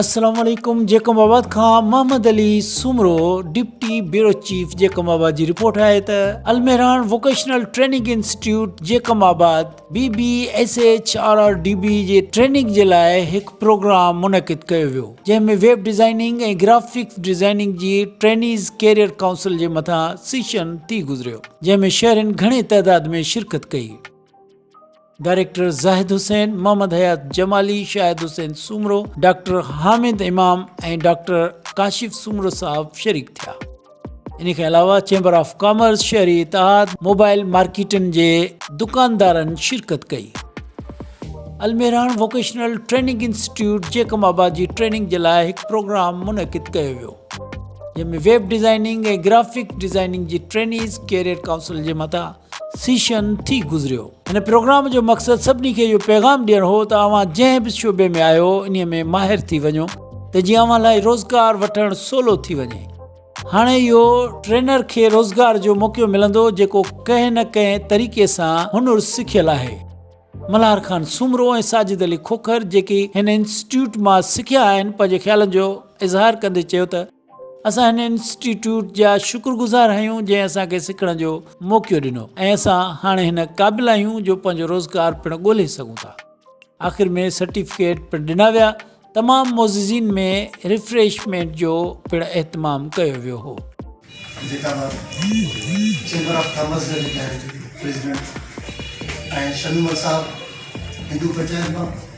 السلام عليڪم جيڪب آباد کان Muhammad Ali Soomro deputy bureau chief Jacobabad جي رپورٽ آهي ته Almehran vocational training institute Jacobabad B B S H R R D B جي ٽريننگ جي لاء هڪ پروگرام منعقد ڪيو ويو جنهن ۾ ويب ڊيزائننگ ۽ گرافڪ ڊيزائننگ جي ٽرينيز ڪيريئر ڪائونسل جي مٿان سيشن ٿي گذريو جنهن ۾ شهرين گهڻي تعداد ۾ شرڪت ڪئي director Zahid Hussain, Muhammad Hayat Jamali, Shahid Hussain Soomro, doctor Hamid Imam ۽ doctor Kashif Soomro صاحب شريڪ ٿيا. انهي کان علاوه چيمبر آف ڪامرس، شهري اتحاد، موبائل مارڪيٽن جي دڪاندارن شرڪت ڪئي. Almehran vocational training institute Jacobabad جي ٽريننگ جي لاء هڪ پروگرام منعقد ڪيو ويو جنهن ۾ ويب ڊيزائننگ ۽ گرافڪ ڊيزائننگ جي ٽرينيز ڪيريئر ڪائونسل جي مٿان سيشن ٿي گذريو. هن پروگرام جو مقصد سڀني کي اهو پيغام ڏيڻ هو ته اوهان جنهن به شعبي ۾ آهيو انهي ۾ ماهر ٿي وڃو ته جيئن اوهان لاء روزگار وٺڻ سولو ٿي وڃي. هاڻي اهو ٽرينر کي روزگار جو موقعو ملندو جيڪو ڪنهن نه ڪنهن طريقي سان هنر سکيل آهي. ملهار خان سومرو ۽ ساجد علي کوکر جيڪي هن انسٽيٽيوٽ مان سکيا آهن پنهنجي خيالن جو اظهار ڪندي چيو ته، اسان هن انسٽيٽيوٽ جا شڪر گذار آهيون جنهن اسان کي سکڻ جو موقعو ڏنو ۽ اسان هاڻي هن قابل آهيون جو پنهنجو روزگار پڻ ڳولهي سگهون ٿا آخر ۾ سرٽيفڪيٽ پڻ ڏنا ويا تمام معززين ۾ ريفريشمينٽ جو پڻ اهتمام ڪيو ويو هو. جيڪا به چيمبر آف ڪامرس جا جيڪي آهن پريزيڊنٽ ۽ شميم الصاحب هندو پنچائت مان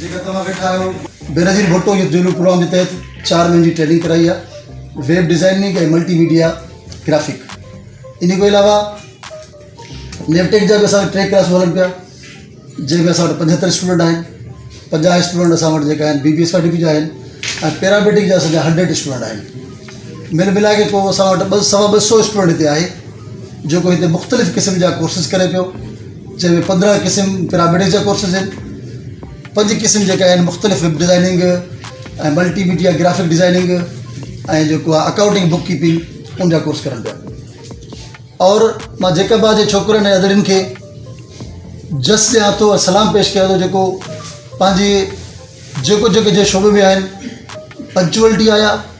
جيڪا توهان ويٺا آهيو. بينظير ڀٽو يوٿ جولو پروگرام جي تحت چار مهينن جي ٽريننگ ڪرائي آهي web designing ۽ multimedia graphic ان کان علاوه نيو ٽيڪ جا به اسان ٽي ڪلاسون هلن پيا جنهن ۾ اسان وٽ پنجهتر اسٽوڊنٽ آهن پنجاهه اسٽوڊنٽ اسان وٽ جيڪا آهن بي بي اي سرٽيفڪيٽ جا آهن ۽ پيراميڊڪ جا اسان جا هنڊريڊ اسٽوڊنٽ آهن مل ملائي ڪري ڪو اسان وٽ ٻه سوا ٻه سو اسٽوڊنٽ هتي آهي جيڪو هتي مختلف قسم جا ڪورسز ڪري پيو جنهن ۾ پندرهن قسم پيرامڊز جا ڪورسز آهن. پنج قسم جيڪي آهن مختلف web designing ۽ multimedia graphic designing ۽ جيڪو آهي اڪائونٽنگ بڪ ڪيپنگ ان جا ڪورس ڪرن پيا اور مان جيڪب آباد جي ڇوڪرن ۽ ادڙين کي جس ڏيان ٿو ۽ سلام پيش ڪيان ٿو جيڪو پنهنجي جيڪو جيڪو جنهن شعبي ۾ آهن پنچوئلٽي آيا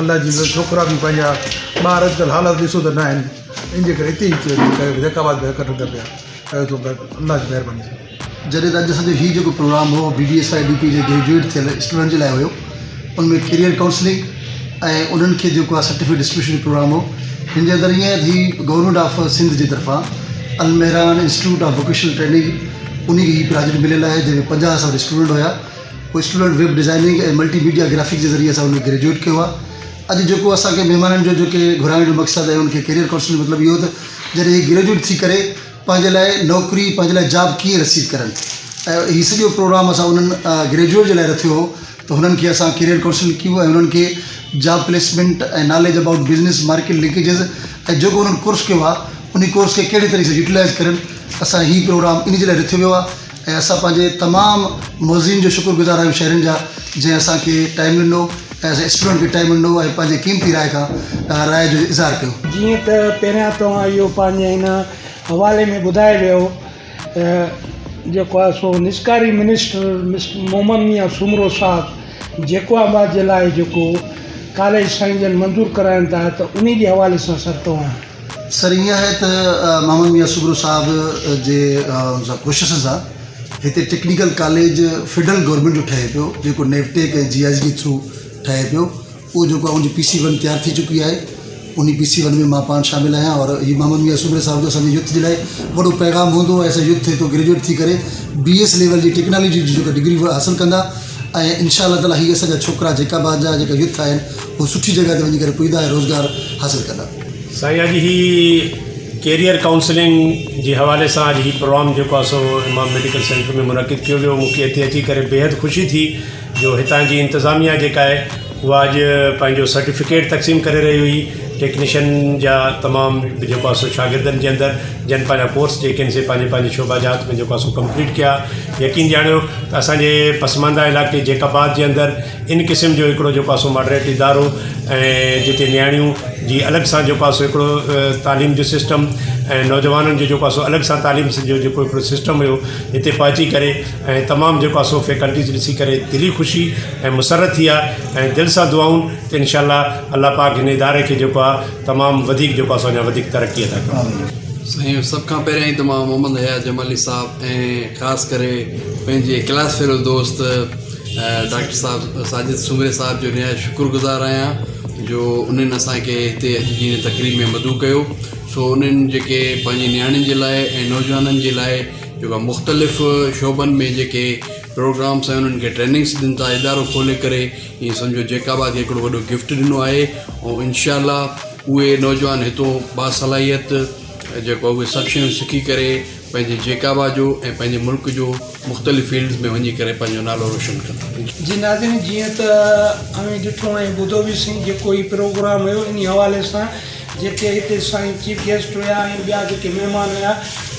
الله جي مھر ڇوڪرا به پنهنجا ٻار اڄڪلھ حالات ڏسو ته ناهن ان جي ڪري اتي ئي ڪيو ڪيو ڪيو جيڪا بات ڪرڻ ٿو پيا ڪيو ٿو پيا الله جي مھرباني سان جڏهن ته اڄ اسانجو هي جيڪو پروگرام هو D D S I D P جي گريجوئيٽ ٿيل اسٽوڊنٽ جي لاء هيو ان ۾ ڪيريئر ڪائونسلنگ ۽ انهن کي جيڪو آ سرٽيفڪيٽ ڊسٽريبيوشن جو پروگرام هو هن جي اندر ائين هي گورنمينٽ آف سنڌ جي طرفان Almehran institute of vocational training انهي کي هي پراجيڪٽ مليل آهي جنهن ۾ پنجاهه اسان وٽ اسٽوڊنٽ هيا student web designing ۽ multimedia graphics جي ذريعي اسان ان ۾ گريجوئيٽ ڪيو آهي اڄ جيڪو اسان کي مهمانن جو جيڪي گهرائڻ جو مقصد ۽ ان کي ڪيريئر ڪائونسلنگ جو مطلب اهو ته جڏهن هي گريجوئيٽ ٿي ڪري پنهنجي لاء نوڪري پنهنجي لاء جاب ڪيئن رسيد ڪرن ۽ هي سڄو پروگرام اسان انهن گريجوئيٽ جي لاء رٿيو هو ته هنن کي اسان ڪيريئر ڪائونسلنگ ڪيون ۽ هنن کي job placement ۽ knowledge about business market linkages ۽ جيڪو هنن ڪورس ڪيو آهي ان ڪورس کي ڪهڙي طريقي سان يوٽيلائز ڪرن اسان هي پروگرام ان جي لاء رٿيو ويو آهي ۽ اسان پنهنجي تمام معززين جو شڪر گذار آهيون شهرين جا جنهن اسان کي ٽائيم ڏنو ۽ اسان اسٽوڊنٽ کي ٽائيم ڏنو ۽ پنهنجي قيمتي راء کان راء جو اظهار ڪيو. جيئن ته پهريان توهان اهو پنهنجي هن حوالي ۾ ٻڌائي ويو ته جيڪو آهي سو نجڪاري منسٽر مسٽر محمد ميان سومرو صاحب جيڪو آباد جي لاء جيڪو ڪاليج سائين جن منظور ڪرايون ٿا ته انهي جي حوالي سان سر توهان سر ائين آهي ته محمد ميان سگھرو صاحب جي ڪوششن سان هتي ٽيڪنيڪل ڪاليج فيڊرل گورنمينٽ جو ٺهي پيو جيڪو نيوٽيڪ ۽ جي آء جي ٿرو ٺهي پيو اهو جيڪو آهي ان جي پي سي ون تيار ٿي چڪي آهي ان جي پي سي ون ۾ مان پاڻ شامل آهيان اور هي محمد ميان سگھرو صاحب جو اسان جي يوٿ جي لاء وڏو پيغام هوندو ۽ اسان يوٿ هتو گريجوئيٽ ٿي ڪري بي ايس ليول جي ٽيڪنالوجي جي جيڪا ڊگري هو حاصل ڪندا ۽ انشاء الله تعالٰي هي اسان جا ڇوڪرا جيڪا به آهن جا جيڪا يوٿ آهن هو سٺي جڳهه تي وڃي ڪري پڄندا ۽ روزگار حاصل ڪندا سائين اڄ هي ڪيريئر ڪائونسلنگ جي حوالي سان اڄ هي پروگرام جيڪو آ سو امام ميڊيڪل سينٽر ۾ منعقد ڪيو ويو مونکي هتي اچي ڪري بيحد خوشي ٿي جو هتان جي انتظاميا جيڪا آهي اها اڄ پنهنجو سرٽيفڪيٽ تقسيم ڪري رهي هئي ٽيڪنيشن جا تمام جيڪو آ سو شاگردن جي اندر جن پنهنجا ڪورس جيڪي آهن سي پنهنجي پنهنجي شعبا جات ۾ جيڪو آ سو ڪمپليٽ ڪيا يقين ڄاڻيو اسانجي پسمانده علائقي جيڪب آباد جي اندر ان قسم جو هڪڙو جو پاسو ماڊريٽ ادارو ۽ جتي نياڻيون جي الڳ سان جو پاسو هڪڙو تعليم جو سسٽم ۽ نوجوانن جو جو پاسو الڳ سان تعليم جو جيڪو هڪڙو سسٽم هيو هتي پهچي ڪري ۽ تمام جو پاسو فيڪلٽيز ڏسي ڪري دلي خوشي ۽ مسرت ٿي آهي ۽ دل سان دعائون ته انشاء الله الله پاڪ هن اداري کي جيڪو آهي تمام وڌيڪ جو پاسو اڃا وڌيڪ ترقي عطا ڪري. سائين سڀ کان پهريان ئي ته مان محمد حيات جمالي صاحب ۽ خاص ڪري پنهنجي ڪلاس فيلو دوست ڊاڪٽر صاحب ساجد سومري صاحب جو نهايت شڪر گذار آهيان جو انهن اسانکي هتي اچي جي هن تقريب ۾ مدعو ڪيو سو انهن جيڪي پنهنجي نياڻين جي لاء ۽ نوجوانن جي لاء جيڪا مختلف شعبن ۾ جيڪي پروگرامس ۽ انهن کي ٽريننگس ڏين ٿا ادارو کولي ڪري ائين سمجهو جيڪا با کي هڪڙو وڏو گفٽ ڏنو آهي ۽ انشاء الله اهي نوجوان هتو باصلاحيت جيڪو اهي سڀ شيون سکي ڪري پنهنجي جيڪابا جو ۽ پنهنجي ملڪ جو مختلف فيلڊز ۾ وڃي ڪري پنهنجو نالو روشن ڪندا. جي ناظرين جيئن ته اوهين ڏٺو ۽ ٻڌو به سھي جيڪو هي پروگرام هيو انهي حوالي سان جيڪي هتي سائين چيف گيسٽ هيا ۽ ٻيا جيڪي مهمان هيا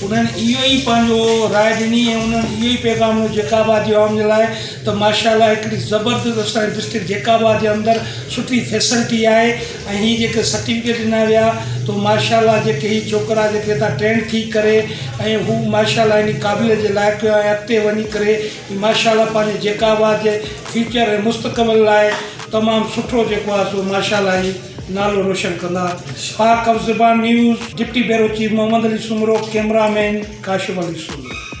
انهن اهو ئي پنهنجو راء ڏني ۽ انهن اهو ئي پيغام ڏنو جيڪابا جي عوام جي لاء ته ماشاء الله هڪڙي زبردست اسان جي ڊسٽرڪٽ جيڪابا جي اندر سٺي فيسلٽي آهي ۽ هي جيڪي سرٽيفڪيٽ ڏنا ويا تو ماشاءالله جيڪي هي ڇوڪرا جيڪي هتان ٽرينڊ ٿي ڪري ۽ هو ماشاءالله اني قابليت جي لائق هيا ۽ اڳتي وڃي ڪري هي ماشاءالله پنهنجي جيڪا به آهي جي فيوچر ۽ مستقبل لاء تمام سٺو جيڪو آهي سو ماشاءالله هي نالو روشن ڪندا Pak Alzaban news deputy bureau chief Muhammad Ali Soomro cameraman Kashif Ali Soomro.